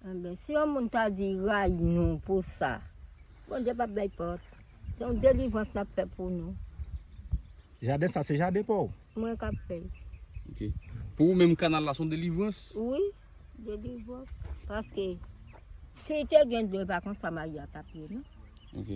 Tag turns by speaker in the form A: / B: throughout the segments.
A: Anben si yon moun ta di rayi nou pou sa. Bondye pap bay pòt. Se yon delivrans lap fè pou nou.
B: Jaden sa se jaden paw? Mwen kap fè l.
A: Ok.
C: Pou ou menm kanal la se yon delivrans? Wi.
A: Delivrans. Paske si te gen dlo e pa konsa Maria tap ye non. Ok.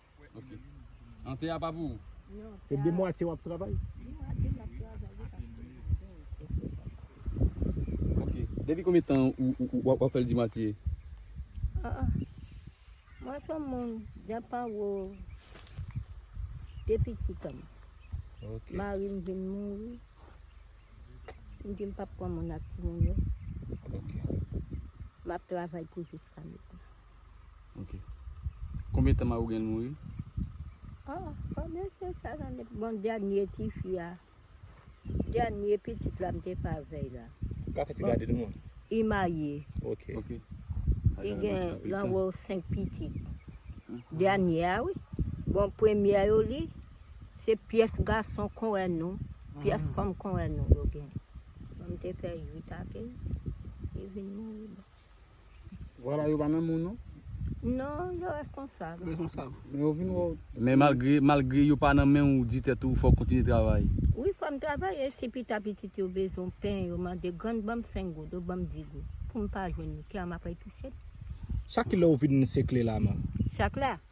A: Ok.
C: An te a pa pou ou? Se de mwatye
B: wap travay?
C: Ok. Depi konbyen tan ou wap fèl di mwatye?
A: Mwen son moun jan pa wou de pitit an. Ok.
B: Mari m vin
A: mouri. M di m pap pran moun ak ti moun yo. Ok. Map travay pou jiska mèt la. Ok.
C: Konbyen tan mari w genyen l mouri? Oh,
A: konbyen se sa nan de. Bon dènye tifi a, dènye pitit la m te fè avè l la. Ou ka fè ti gade nou
B: an? Li marye.
A: Ok. Ok.
C: Li gen
A: anwo 5 pitit. Dènye a wi. Bon premyè yo li, se pyès gason kon wè nou, pyès fanm kon wè nou yo gen. Bon m te fè 8 a 15, li vin mouri.
C: Vwala yo pa menm moun non. Non,
A: yo responsab. Responsab. Men yo vin wè w.
C: Men malgre, malgre yo pa nan menw ou di tèt ou fòw kontinye travay. Wi fòm travay
A: e si pita pitit yo bezwen pen yo mande grann banm 5 goud ou banm 10 goud poum pa jwenn li kè a map retouchel. Chak kilè
B: ou vin sekle la man? Chak la?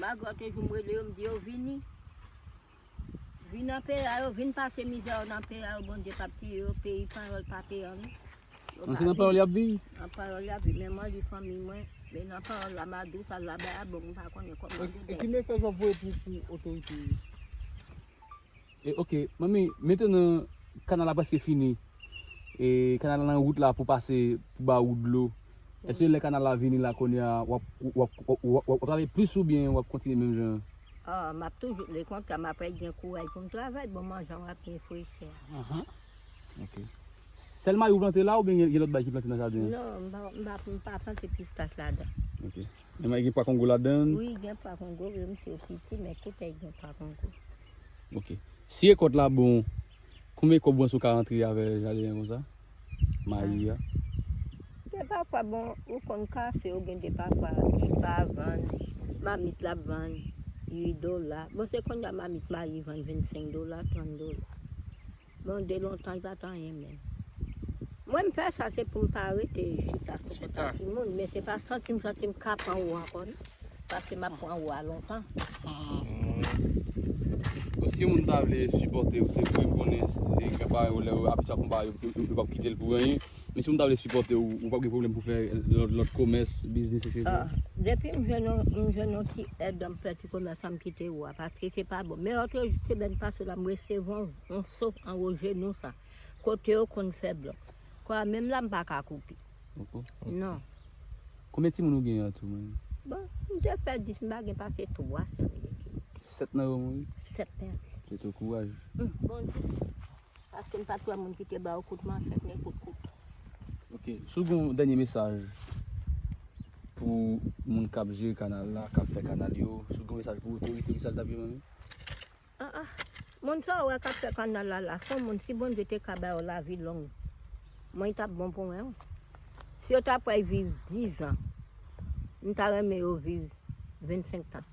A: Magò toujou m rele yo m di yo vini vin nan peyi a yo vin pase mizè yo nan peyi a yo Bondye pap tiye yo peyi panyòl pa peyi anyen yo pa viv nan
C: panyòl yap viv nan panyòl yap viv
A: men mwen di fanmiy mwen men nan panyòl la ma dous al la bay a bon m pa konnen kòman yo dèy e ki mesaj wap voye
D: pou otorite yo.
C: E ok manmi mete nan kanal la preske fini e kanal la nan wout la pou pase pou ba ou dlo eske lè kanal la vini la kounye a wap wap wap travay plis oubyen wap kontinye menm jan an. Ah map toujou
A: le kontra map rèt gen kouraj poum travay bon man jan wap ye fre chè a. Ahan
C: ok sèl mayi ou plante la oubyen gen lòt bagay ki plante nan jaden an. Non mpa
A: mpa plante pistach ladan. Ok. Men may
C: gen pwa kongo ladan? Wi gen pwa kongo
A: vre misye yo piti men tout èg gen pwa kongo. Ok.
C: Si rekòt la bon, konbyen kòb ou panse ou ka rantre avè jaden an konsa? Mayi a.
A: Gen pa fwa bon ou konn kase ou gen de pa fwa ki pa vann, mamit la ap vann 8 dola. Bon se konnya mamit mayi vann 25 dola, 30 dola. Bon de lontan li pat anyen menm. Mwen m fè sa se poum pa rete chita sou kont a timoun men se pa santim santim ka pran ou ankò non paske map pran ou a lontan.
C: Bon si yon moun ta vle sipòtew se pou yo konnen gen bagay ou lè yo abitye ap konpare yo pap kitel pou anyen Men si mwen ta vle sipòte w, ou pap gen pwoblèm pou fè lòt komès, biznis etc? Depi m jwenn
A: yon, m jwenn yon ti èd dan m fè ti komès la m kite ou a paske se pa bon. Men otre semèn pase la m resevwa yon so anwo jenou sa kote yo konn fè blòk. Kò a menm la m pa ka koupe. Non.
C: Konbyen timoun ou gen an tou menm? Bon, m
A: te fè 10, m pa gen pase 3 sèm m gen. 7 nan
C: yo mouri? 7 pèdi.
A: Souwete w kouraj.
C: Bondye.
A: Paskem pat wè moun kite baw kout manchèt ni
C: kout kouto. Ok si w gen yon dènye mesaj pou moun kap jere kanal la kap fè kanal yo si w gen yon mesaj pou otorite kisa l tap ye manmi? Ah ah
A: moun sa ou wè kap fè kanal la la son moun si Bondye te ka ba yo lavi long mwen tap bon pou mwen wi si yo ta pway viv 10 ans m ta renmen yo viv 25 tan.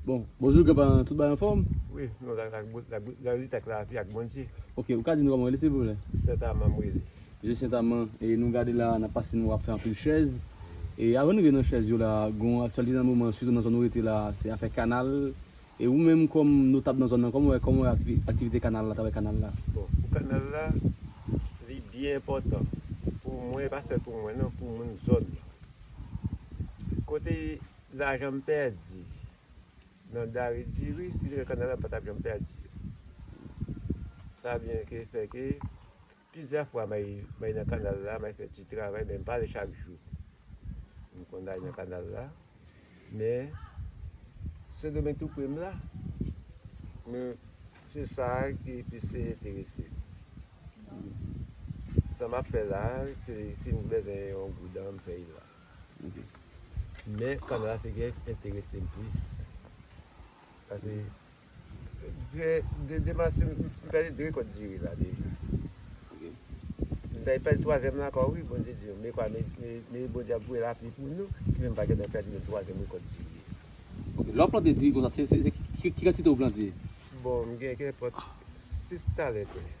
C: Bon, bonjou gran paran tout bagay anfòm? Wi, nou la ak
E: bout la bout lavi ak lavi ak Bondye. Ok, ou ka di nou kòman ou rele
C: silvouplè? Sent Aman m rele.
E: Mesye Sent Aman,
C: e nou gade la nap pase nou ap fè anpil chèz, e avan nou rive nan chèz yo la gon yon aktyalite nan moman sitou nan zòn ou rete la se afè kanal, e ou menm kòm notab nan zòn nan kòman ou wè kòman ou wè aktivite kanal la travay kanal la? Bon, pou kanal la
E: li byen enpòtan pou mwen e pa sèl pou mwen non pou moun zòn nan. Kote. Lajan m pèdi nan dare diri si li nan kanal la m pa tap janm pèdi yo. Sa byen ke fè ke plizyè fwa m al mwen nan kanal la m al fè ti travay men m pa ale chak jou. M konn ale nan kanal la men sendomeng tou pre m la men se sa ki plis te enterese m. Sa m ap fè la se si m bezwen yon goudan m pèy la. Men Fanrah se gen enterese m plis pase de Demas yo m pèdi 2 kòd diri la deja m ta pèdi twazyèm la ankò wi Bondye di m ekwa me Bondye ap voye lapli pou nou ki fè m pa gentan pèdi menm twazyèm rekòt diri a. Ok lè w ap plante diri konsa
C: se ki kantite w plante? Bon m gen
E: kenpòt 6 talè tè.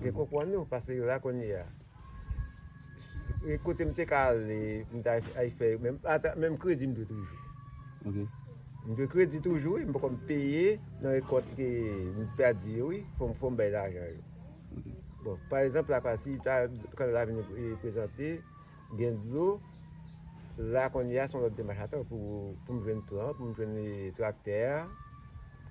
E: Mwen konpwann ou paske la kounye a e kote m te ka ale m ta al fè ata menm kredi m dwe toujou ok
C: m dwe
E: kredi toujou wi m poko m peye nan rekòt ke m pèdi yo wi fò m bay lajan yo
C: bon pa egzanp
E: la pasi ta kandal la vini prezante Gen dlo la kounye a son lòt demach atò pou poum jwenn plan, poum jwenn traktè a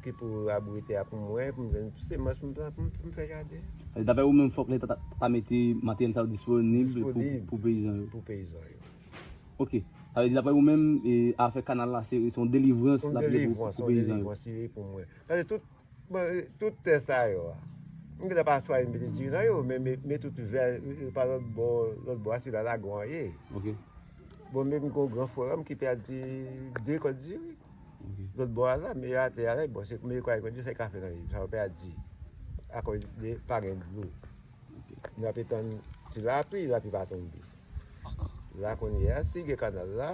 E: ki pou raboure tè a pou mwen, poum jwenn semans poum plan poum fè jaden. Dapre ou menm fòk
C: leta ta mete materyèl sa yo disponib pou peyizan yo. Pou peyizan yo.
E: Ok.
C: Sa vle di dapre ou menm afè kanal la se yon delivrans lap ye pou peyizan
E: yo. Yon delivrans li ye pou
C: mwen.
E: Paske tout Bon, tout tè sa yo a, mwen gen lè pa chwazi mete diri nan yo, men mwen tout vè, pa lòt bò, lòt bò a se la lagon an ye. Ok.
C: Bon, men
E: mwen gen yon gran frè an mwen ki pèdi de kòd diri. Ok. Lòt bò a la, men yo atè a la, bon, se men yo kwè kòd diri se kafe nan yo, sa yo pèdi. Akòz de pa gen dlo. Ok. Nou ape tann ti lapli, lapli pa tonbe. La kounye a, si gen kanal la.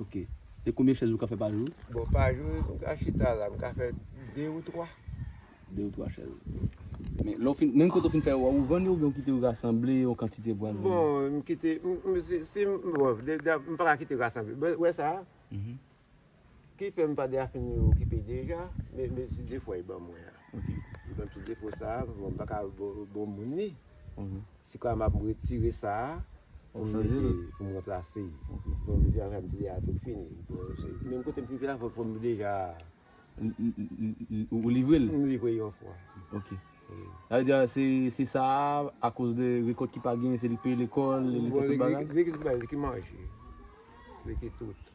E: Ok.
C: Se konbyen chèz ou ka fè pa jou? Bon pa jou m
E: ka chita la m ka fè 2 ou 3. 2 ou 3
C: chèz. Men lè w fin, menm kote w fin fè yo a ou vann yo oubyen ou kite yo rasanble yon kantite pou al vann yo? Bon m kite,
E: m si, si m, bon m pa ka kite yo rasanble. Bon ou wè sa a? Ki fè m pa de a fin okipe deja, men se 2 fwa yo ban mwen an. Mwen tout defo sa a, mwen pa ka bon moun li. Si kwa m ap m retire sa a, pou m ranplase l. Mwen mete ansanm avèk li a tout fini. Menm kote m fin fè a, fò m deja. Ou
C: livre l?
E: M livre l yon
C: fwa.
E: Ok.
C: Sa vle di a, se sa a, akoz de rekòt ki pa genyen, se li peye lekòl, li fè tout bagay? Li ki tout bagay, li ki manje.
E: Li ki tout.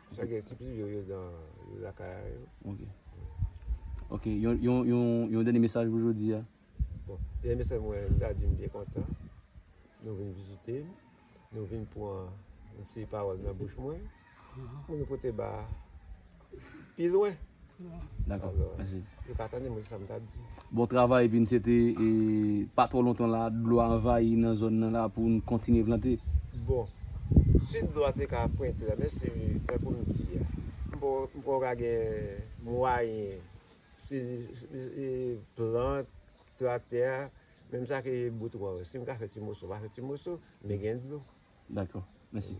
E: Sa gen ti plis yo yo dan yo lakay a yo. Ok.
C: Ok yon yon yon yon dènye mesaj pou jodi a? Bon dènye
E: mesaj mwen m ta di m byen kontan nou vin vizite m, nou vin pran yon ti pawòl nan bouch mwen pou nou pote ba pi lwen. Dako
C: mèsi. Yo pa tande mwen se sa m
E: tap di. Bon travay epi
C: n swete pa twò lontan la dlo a anvayi nan zòn nan la pou n kontinye plante. Bon
E: si dlo a te ka ap printre la men si tankou m di a. M pa w ka gen mwayen si plant traktè a menm sa ki bout wòl si m ka fè ti moso m va fè ti
C: moso
E: men gen dlo. Dako mèsi.